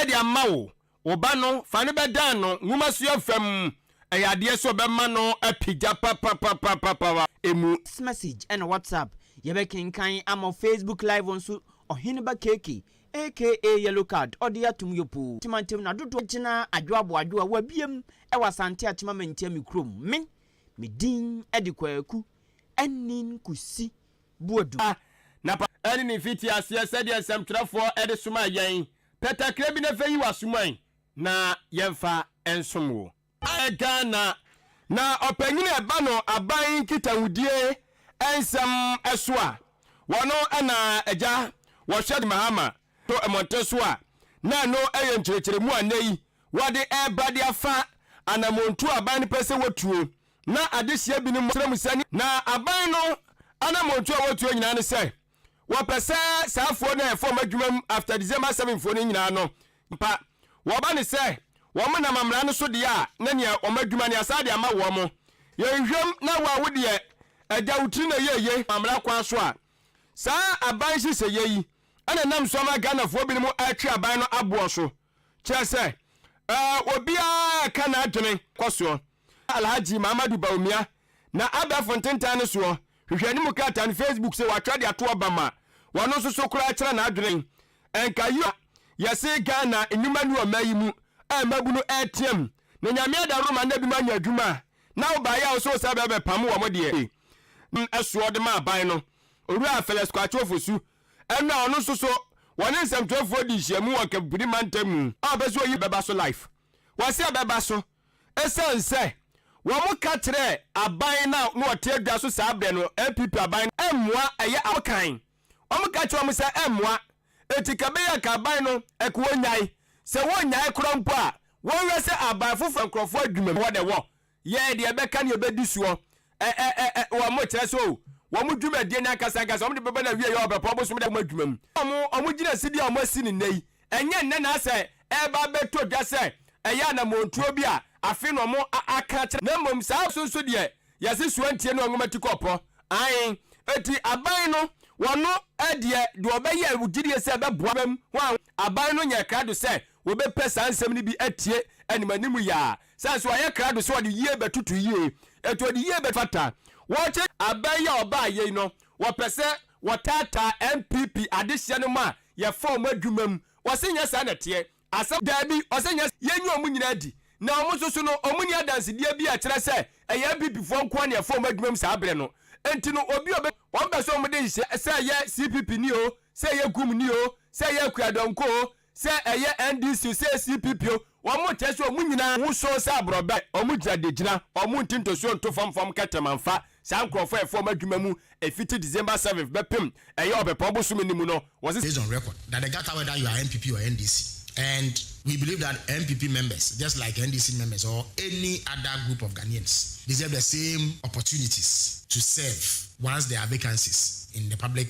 de ama wo. Wo ba no, fa no bɛdan no nwomasua-fa mu. Ɛyɛ adeɛ sɛ ɔbɛma no apigya papapapapa wɔ ɛmu. Text message ɛna WhatsApp. Yɛbɛkenkan ama wo Facebook live nso. Ɔheneba Keke aka Yellow Card ɔde atom yopoo. Temantam na dodoɔ gyina Adwo Aboadwo a wɔabiem wɔ Asante Atema Mantia me kurom. Me, me din de Kwaku Anin Kusi. bu adu. Na pa ara ne ne mfitiaseɛ, sɛdeɛ nsɛmtwerɛfoɔ de somaa yɛn, pɛ kakra bi na fa yi w'asuman na yɛmfa nsom wo. Ayɛ Ghana, na ɔpanyin a ɛba no aban nkitahudie nsɛm so a, wɔn na agya wɔhwɛ de Mahama to mmɔnten so a, na ɛno yɛ nkyerɛkyerɛmu a nnɛ yi wɔde reba de afa anamɔntuo a aban no pɛ sɛ wɔtuo Ná adesua binom kyerɛ mu sɛ nea aban no anamɔntuo a wɔtuo nyinaa ne sɛ wɔpɛ sɛ saa afuo no a ɛfam adwumam after December seven fuo no nyinaa no mpa wɔba ne sɛ wɔn nam amena no so deɛ a na nea wɔn adwuma ne asan de ama wɔn. Yɛnhwɛm na wo a wo deɛ agya wo tiri na ɛyɛ eye. Amena kwan so a saa aban nhyehyɛeɛ yi na ɛnam so ama Ghanafoɔ binom retwe aban no aboɔ so kyerɛ sɛ obiara reka n'adwene kɔ soɔ. Alhaji Mahamadu Bawumia na abɛɛfo ntentan no soɔ hwehwɛ ne mu krataa no Facebook se watwerɛ de ato aba ma wɔno nso so koraa kyerɛ n'adwene ɛnka yio a yɛse Ghana nnwuma nni ɔman yi mu a mmabunu ɛreteam na Nyame ada roma na binom anya adwuma a na wobaeɛ a wose wosan bɛba bɛpamo wɔn deɛ nam soɔ de ma aban no Owura Felix Kwakye Ofosu ɛno a ɔno nso so wɔne nsɛmtwerɛfoɔ di nhyiamu wɔ Nkabubiri mantam mu a ɔpɛ sɛ oyi bɛba so life wɔse ɛbɛba so. Esiane sɛ wɔka kyerɛɛ aban no a na wɔte adwa so saa berɛ no, NPP aban no, ɛmmoa, ɛyɛ abakan, wɔka kyerɛɛ wɔn sɛ ɛmmoa, enti ka ɛbɛyɛ a anka aban no, ɛka wɔnnyae. Sɛ wɔnnyae koraa mpo a, wɔnhwɛ sɛ aban foforɔ nkorɔfoɔ adwuma mu, hɔ na ɛwɔ, yɛɛ deɛ ɛbɛka ne yɛbɛdi soɔ. Ɛɛɛɛ wɔn mo kyerɛ so o. Wɔn mo dwumadie no ankasa ankasa wɔn de bɛba na wie yɛ ɔbɛpɔ ɔbosom de wɔn adwuma mu. Wɔn mo wɔn mo gyina si bi a wɔn asi no nnɛ yi ɛnyɛ nnɛ na asɛ ɛɛba abɛtɔ dwa sɛ ɛyɛ anamɔntuo bi a afe na wɔn a aka akyerɛ na mmom saa nso nso deɛ yɛse soa ntie no ɔnwoma ti kɔ ɔpɔ ae eti aban no wɔn no deɛ deɛ ɔbɛyɛ wo gyidie sɛ ɛbɛboa bɛm ho a aban no nyɛ krado sɛ wɔbɛpɛ saa nsɛm no bi atie animanimu yaa Sɛ nso ɔyɛ krado sɛ ɔde yie bɛtoto yie, enti ɔde yie bɛfata. Wɔkyerɛ aba yi a ɔbaa yei no, wɔpɛ sɛ wɔtaataa NPP adehyeɛ no ma yɛfa wɔn adwuma mu. Ɔse nyɛ saa na ɛteɛ. Asɛm. Daabi, ɔse nyɛ saa. Yɛnyi wɔn nyinaa adi. Na wɔn nso so no, wɔnni adansedeɛ bi a ɛkyerɛ sɛ ɛyɛ NPP foɔ nko ara na yɛfa wɔn adwuma mu saa berɛ no. Enti no, obi a ɔbɛ. Wɔn pɛ sɛ wɔde nhyehyɛeɛ. Sɛ ɛyɛ CPP ni o, sɛ ɛyɛ GUM ni o, sɛ ɛyɛ Akuadɔnkɔ o, Sɛ ɛyɛ NDC o, sɛ ɛyɛ CPP o, wɔn nkyerɛ sɛ wɔn nyinaa ho sɔn sɛ aborɔbɛ, wɔn gyina de gyina, wɔn nti ntosoɔ nto fam fam nkɛtɛm amfa saa nkorɔfoɔ a ɛfa wɔn adwuma mu ɛfiti December seventh bɛpem ɛyɛ ɔpɛpɔn bosome no mu no, wɔse. Based on record that the gata whether you are NPP or NDC and we believe that NPP members just like NDC members or any other group of Ghanaians deserve the same opportunities to serve once there are vacancies in the public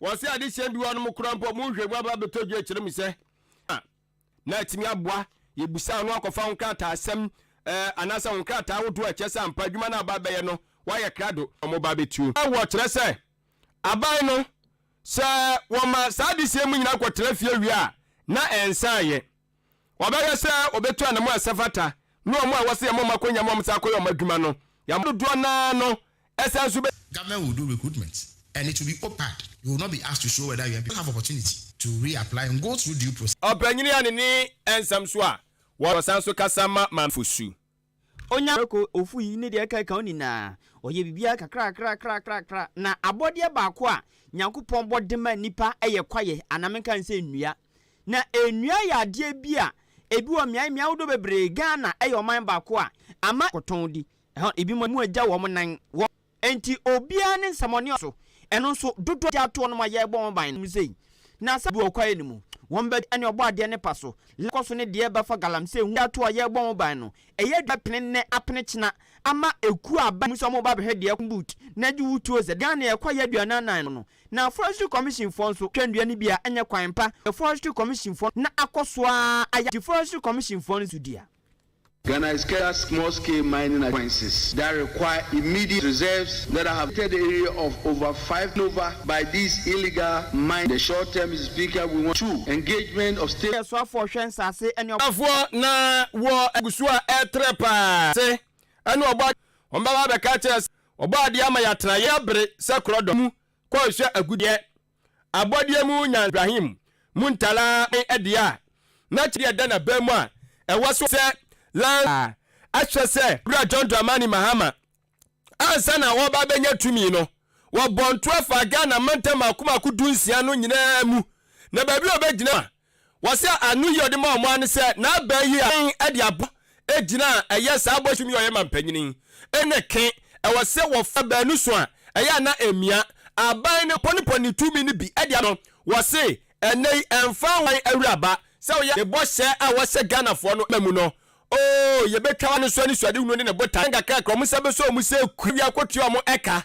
Wɔse adesua bi hɔ nom koraa mpo a ɔmo nhwɛ mu aba abɛtɔ dwa kyerɛ mu sɛ a na atumi aboa yɛ busaa no akɔfa wo nkrataa asɛm ɛɛ anaasɛ wo nkrataa ahodoɔ a ɛkyerɛ sɛ ampa adwuma no a aba abɛyɛ no wayɛ krado na ɔmo ba abɛtuo wɔ kyerɛ sɛ aban no sɛ wɔma saa adesua mu nyinaa kɔtra fie wie a na ɛnsan yɛ. Wɔbɛhwɛ sɛ wɔbɛtu anamo a ɛsɛ fata ne wɔn a wɔse yɛmmɔ wɔn akɔnya ma wɔsan kɔyɛ wɔn adwuma no. Yɛn dodoɔ no ara no san nso bɛ. Government will do recruitment and it will be opad, you will not be asked to show whether you have opportunity to re-apply and go through due process. Ɔpanyini Anene Ansam nso a wɔsan nso kasa ma Maame Fosu. Onya prako, ofui, ne deɛ ɛkeka ho nyinaa. Ɔyɛ biribiara kakrakrakrakrakra. Na abɔdeɛ baako a Nyankopɔn bɔ de ma nnipa yɛ kwaeɛ, anaa menka no sɛ nnua. Na nnua yɛ adeɛ bi a ebi wɔ mmeae, mmeae ahodoɔ bebree, Ghana yɛ ɔman baako a ama kɔtɔn di. Ɛhɔ, ebinom agya wɔn nan wɔ Enti obiara ne nsɛmɔne ɔso. Ɛno nso, dodoɔ gyaa toɔ nom a yɛrebɔ wɔn ban no mu sei. Na sɛ ɛduru ɔkwaɛ no mu, wɔn bɛ ɛne ɔbɔadeɛ no pa so, la kɔ so ne deɛ ɛbɛfa galamsey ho gyaa toɔ a yɛrebɔ wɔn ban no. Ɛyɛ adwuma pene nnɛ apene kyena ama ekuo a aba mu sɛ wɔreba abɛhwɛ deɛ ɛkɔm but na gye wo tuo sɛ Ghana yɛkɔ yɛ aduanan nan no no. Na Forestry Commission foɔ nso twɛ nnua no bi a ɛnyɛ kwan pa yɛ Forestry Commission foɔ no na akɔ so ara ayɛ gye Forestry Commission foɔ no so dua. Ghana is key as small scale mining acquaintances that require immediate reserves that I have created area of over five nova by these illegal mine the short term Mister Speaker we want two engagement of state Soafoɔ hwɛ nsase ne ɔbo. Afoɔ na wɔ agu so a ɛretrɛ pa ara ase ɛne ɔbɔ Wɔbɛba abɛka akyerɛ sɛ ɔbɔ adeɛ ama yɛatena yɛn bere sɛ korɔdɔm mu kɔ rehwɛ agudeɛ Abɔdeɛ mu nyansahyɛmu mu ntaraa ne ɛdeɛ a n'akyɛdeɛ da n'abam mu a ɛwɔ so sɛ lance a ahyɛ sɛ Wura John Dramani Mahama ansa na ɔreba abɛnya tumi no, wɔbɔɔ ntoa faa Ghana mantam mmaako mmaako dunsia no nyinaa mu na baabi a ɔbɛgyina a Wɔse ano yi ɔde maa wɔn ara ne sɛ n'abaa yi a ɔbɛn de aboa gyina a ɛyɛ saa bɔhyem yi a ɔyɛ ma mpanyin yi ne ke. Ɛwɔ se wɔfa baanu so a ɛyɛ a na ɛmmia. Aban no pɔnepɔne ne tumi no bi de ama no. Wɔse ɛnnɛ yi ɛmfa ho wan awuraba sɛ ɔyɛ ne bɔhyɛ a wɔhyɛ Ghanafoɔ no ma mu no, oo yɛbɛtwa ano nso anisoadehunu ne ne botae nkakra kra wɔn nsa bɛsɔ wɔn sɛ kura wie akɔtua wɔn ɛka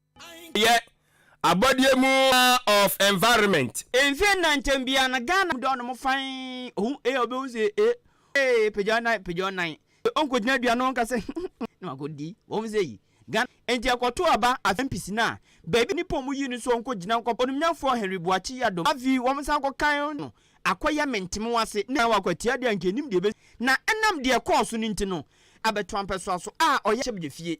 yɛ abɔdeɛ mu of environment. Mfie nnan ntɛm biara no Ghana mu dɔ no mo fann ohu ee ɔbɛhu sɛ ee ee pagya ɔnan pagya ɔnan ee ɔnkɔgyina dua no ɔnka sɛ na wakɔdi wɔn sɛ yi Ghana enti ɛkɔto aba afei mpisi no a baabi nnipa ɔmo yi no so ɔnkɔgyina nkɔpɛ onimnyafoɔ Henry Boakye Yadom afei wɔn san kɔkan no akɔyɛ mentemew ase na wakɔ atia deɛ anka ɛnim deɛ ɛbɛsi na ɛnam deɛ ɛkɔɔ so no nti no abɛto ampɛsoa so a ɔyɛ ahyɛmgyefie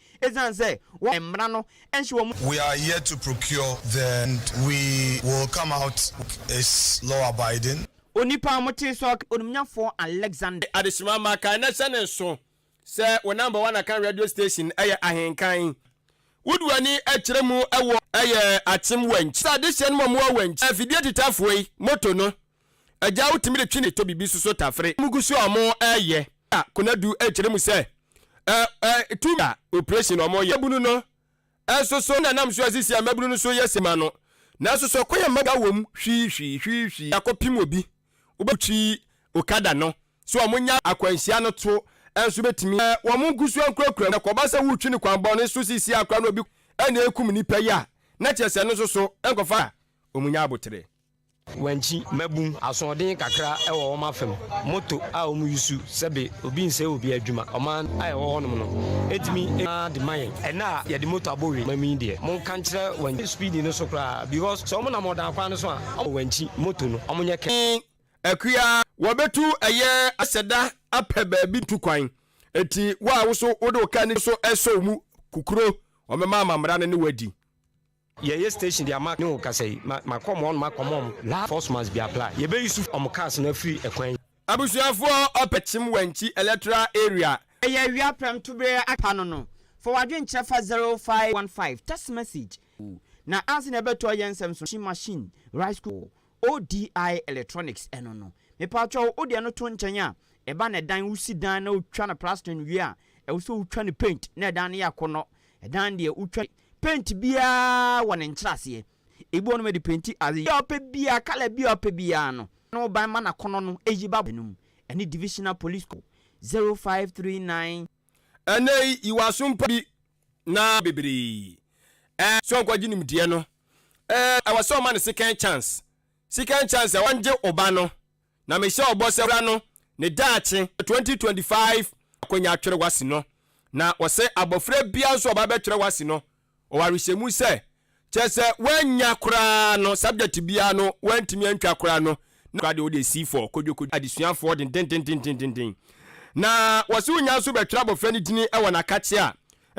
Esiane sɛ wɔn mmara no nhyɛ wɔn. We are yet to procure the and we will come out is law abiding. Onipa a motee sɛ ɔka. Onimnyafoɔ Alexander. Adesima ma kan na hyɛ ne nso sɛ wo number one akan radio station yɛ ahenkan. Wode w'ani kyerɛ mu wɔ. Yɛ akyem wɔ nkyɛ. Sɛ adehyeɛ no ma mo wɔ wɔ nkyɛ. Afidie titafoɔ yi moto no. Agya wo tumi de twe ne tɛ bibi so so tafere mu gu so a ɔmo ɛyɛ a konadu ɛkyerɛ mu sɛ ɛ ɛ tumi a operation ɔmo yɛ mabunu no ɛso so na nam so asisi a mabunu no so yɛ se ma no nanso sɛ ɔkɔ yɛ mabunu ka wɔm hwii hwii hwii hwii akɔ pim obi wobɛ twi okada no so ɔmo nya akwanhyia no to ɛnso bɛtumi ɛ wɔn gu so ɛnkurakura mu na kɔba sɛ wotwi no kwan bɔne so sisi akora no obi ɛna ɛkum nipa yi a na kyerɛ sɛ no so so ɛnkɔfa a ɔmo nya abotere. Wankyi mmabun asoɔden kakra wɔ wɔn afam, moto a wɔyusu sɛbe obi nsɛe obi adwuma. Ɔman a ɛwɔ hɔnom no tumi ma de ma yɛn. Ɛnnɛ a yɛde moto abɔ we ma mu yi deɛ, monka nkyerɛ wankyi speedi no so koraa because sɛ wɔnam ɔdan kwan no so a, wɔn wankyi moto no, wɔnyɛ kɛ. He akua wɔbetu ɛyɛ asɛ da apɛ baabi tu kwan nti wo a wo so wode wo car no so resɔw mu kukuro wɔbɛma amammerɛ no ne wo adi. Yɛyɛ station de ama ne okasa yi ma ma kɔ ɔmo hɔ nom akɔ ma ɔmo laa force must be apply yɛ bɛ use ɔmo cars no afiri ɛkwan yi. Abusuafoɔ ɔpɛ kyem wankyi electoral area. Ɛyɛ awia prɛm to bere aka ano no fa w'adwene kyerɛ fa zero five one five text message na ansa na ɛbɛtɔ yɛ nsɛm so machine machine rice cooker ODI electronics no no. Mepaatwɔw wode ɛno to nkyɛn a, ɛba na ɛdan wosi dan na wotwa no plastering wie a, ɛwɔ sɛ wotwa no paint na ɛdan no yɛ akɔnnɔ. Ɛdan deɛ wotwa paint biara wɔ ne nkyerɛaseɛ. Ebi wɔ nom ɛde painti adeɛ a wopɛ biara, colour biara a wopɛ biara no. Na wo ban ma n'akɔnnɔ no ɛyi ba bɔ no mu. Ɛne Divisional Police Code 0539. Ɛnnɛ yi, yi w'aso mpa bi Na bebree eh sua nkwagye nimdeɛ no eh ɛwɔ sɛ ɔma no second chance second chance a wɔngye oba no na mehyɛ ɔbɔ sɛ wura no ne daakye twenty twenty five akwanya atwere wasi no na ɔsɛ abɔfra biara nso ɔba bɛtwere wasi no ɔwɔ awehyɛmu sɛ Kyerɛ sɛ wannya koraa no, subject biara no wantumi antwa koraa no, na deɛ wode si fɔ kodwokodwo adesuafoɔ dendendendendenden. Na wɔse wonya nso bɛtwerɛ abɔfra no dini wɔ n'akakye a,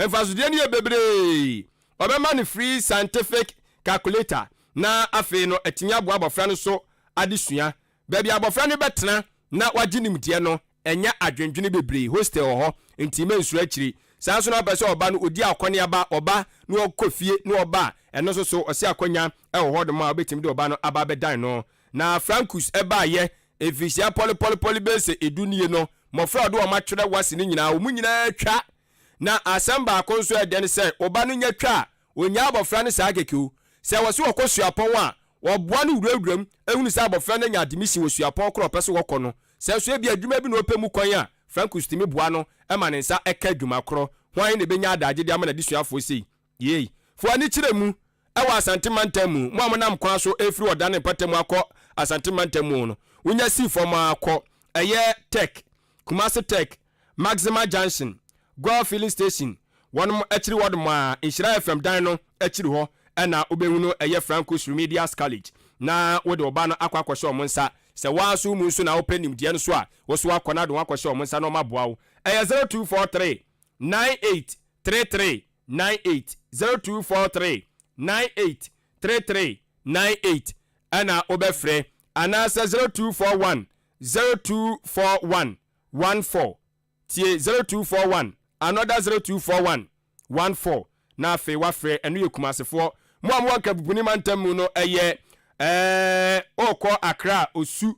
mfasodeɛ no yɛ bebree. Wɔbɛma no free scientific calculator na afei no atumi aboa abɔfra no so adesua. Baabi a abɔfra no bɛtena na wagye nimdeɛ no, ɛnyɛ adwendwene bebree. Hostel wɔ hɔ, enti mansuro akyiri. Saa ara nso na ɔpɛ sɛ ɔba no, ɔdi akɔneaba, ɔba na ɔkɔ fie na ɔba a, ɛno nso so, ɔse akwannya wɔ hɔnom a wobɛtumi de ɔba no aba abɛdan no. Na Francus baeɛ. Mfirihyia pɔlepɔlepɔle bɛyɛ sɛ edu nie no, mmɔfra a ɔde wɔn atwerɛ wase no nyinaa, wɔn nyinaa twa. Na asɛm baako nso a ɛyɛ dɛ ne sɛ, ɔba no nya twa a, Onnyaa abɔfra no saa kɛkɛ o. Sɛ wɔse wɔkɔ suapɔn a, wɔboa no wurawura mu hunu sɛ abɔfra no anya admission wɔ suapɔn koro a ɔpɛ sɛ wɔkɔ no. Sɛ nso ebia adwuma bi na ɔpɛ mu kwan a, Francois tumi boa no ma ne nsa ka adwuma koro. Hwan na ɛbɛnya adaagye de ama n'adesuafoɔ sei? Yei. Fo ani kyerɛ mu wɔ Asante mantam mu. Mo a monam kwan so refiri Ɔdane mpata mu akɔ Asante mantam mu no, wonya si fam ara kɔ, ɛyɛ Tech, Kumasi Tech, Maxima Junction, Goil Filling Station, wɔnom akyiri hɔ nom a Nhyira FM dan no akyiri hɔ na wobɛhu no, ɛyɛ Franco's Remedials College, na wode wo ba no akɔ akɔhyɛ wɔn nsa. Sɛ wo ara nso wo mu nso na wopɛ nimdeɛ no so a, wo nso woakɔ na wode wɔn akɔhyɛ wɔn nsa na wɔaboa wo. Ɛyɛ zero two four three nine eight three three nine eight, zero two four three nine eight three three nine eight ɛna wobɛfrɛ, anaasɛ zero two four one zero two four one one four tie zero two four one another zero two four one one four na afei wafrɛ ɛno yɛ Kumasefoɔ mo a mowɔ Nkabubuni mantam mu no ɛyɛ ɛɛ ɔkɔ Accra Osu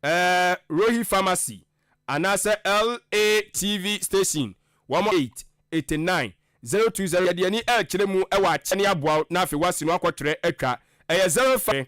ɛɛ Rohi Pharmacy anaasɛ LATV station wɔn eight eighty nine zero two zero yɛde ani ɛɛkyerɛ mu ɛwɔ akyɛ ne aboa wo na afei wasi no akɔtwerɛ atwa ɛyɛ zero five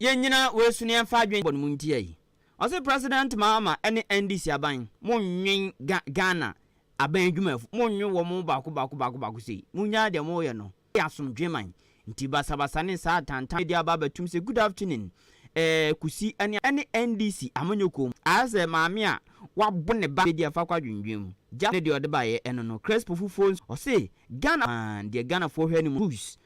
Yɛnnyina woesu na yɛmfa adwen bɔ no mu ntsia yi. Ɔse President Mahama ne NDC aban monnwen Ga Ghana aban edwumafo, monnwen wɔn baako baako baako baako sei. Munnyaa deɛ moreyɛ no, yɛ asomdwee man. Nti basabasa ne saa atantanne yi de aba abɛtom sɛ good afternoon eh, Kusi ne ne NDC amanyɔkuo mu. Ayɛ sɛ maame a wabɔ ne ba bɛdi afa kɔ adwendwen mu. Just ne deɛ ɔde baeɛ no no, Crespo fufuo nso, ɔse Ghana man, deɛ Ghanafoɔ hwɛ no mu no, Kusi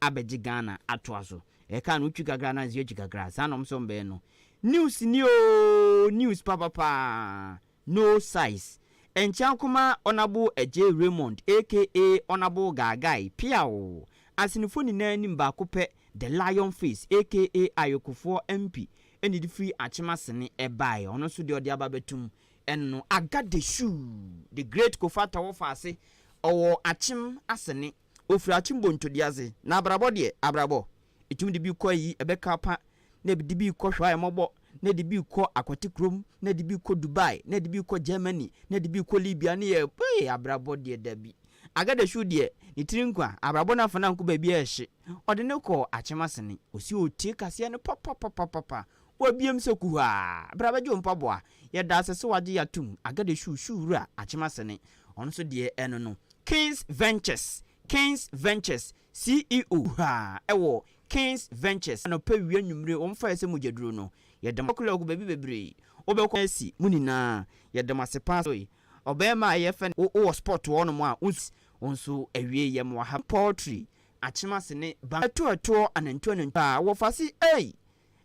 abɛgye Ghana atoa so. Ɛka no wotwi kakra na nso atwi kakra. Saa na wɔn nso wɔn bɛyɛ no. News ni oo, news papapaa. No size. Ɛnkyea koma Ɔnabo Agyei Raymond aka Ɔnabo Gaagai, Peaw! Asenefo nyinaa nim baako pɛ, The Lion Face aka Ayokofoɔ MP na edi firi Akyem Asene ɛbaeɛ. Ɔno nso deɛ ɔde aba bɛto mu no. Agadeshu, The Great Kofa Tawɔfa ase, ɔwɔ Akyem Asene. Ofir akyem bɔ ntode adze, na abrabɔ deɛ, abrabɔ. Etum de bi kɔ ayi, ɛbɛka pa, na ɛde bi kɔ hwɛ a ɛmɔbɔ, na ɛde bi kɔ akwate kurom, na ɛde bi kɔ Dubai, na ɛde bi kɔ Germany, na ɛde bi kɔ Libya, ne yɛ Hey! Abrabɔ deɛ dabi. Agadashuo deɛ, ne tiri nkwa, abrabɔ n'afa n'anko baabi a ɛhye. Ɔde no kɔ akyem asene, ɔsi ɔretie kaseɛ no papapapapa, wabiem sɛ kuhaa. Bra bɛgye wo mpaboa. Yɛda ase sɛ wagye yɛ atom, Agadashuo, Shuo wura, akyem asene. Ɔno nso deɛ ɛno no, Kings Ventures, Kings Ventures, CEO kuraa wɔ Kings Ventures. Anɔpa wia nwummere wɔn faeɛ sɛ mogyaduro no yɛda mo ase kɔ baabi bebree wobɛkɔ asi mo nyinaa yɛda mo ase paa sɛ ɔbarima a yɛfrɛ no wowɔ spot hɔ nom a wonsi wo nso awie yɛ mo ahaba poultry akyem ase ne bamma ɛtoɔ ɛtoɔ anantuo anantuo a wɔfa ase ei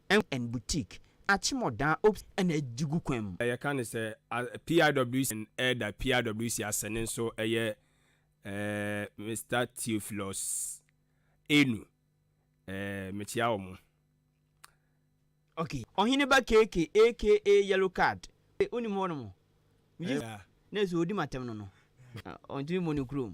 Ɛnk and Boutique, Akyemɔdaa ops na adi gu kwan mu. Yɛka no sɛ PIWC and Ɛreda PIWC ase no nso yɛ Mister Theophilus Enu. Mekyea wɔn. Okay, Ɔhene ba KK aka Yellow Card. Wonim hɔnom? Megye di sɛ odi m'atɛm no no, ɔntumi mmɔ ne kurom.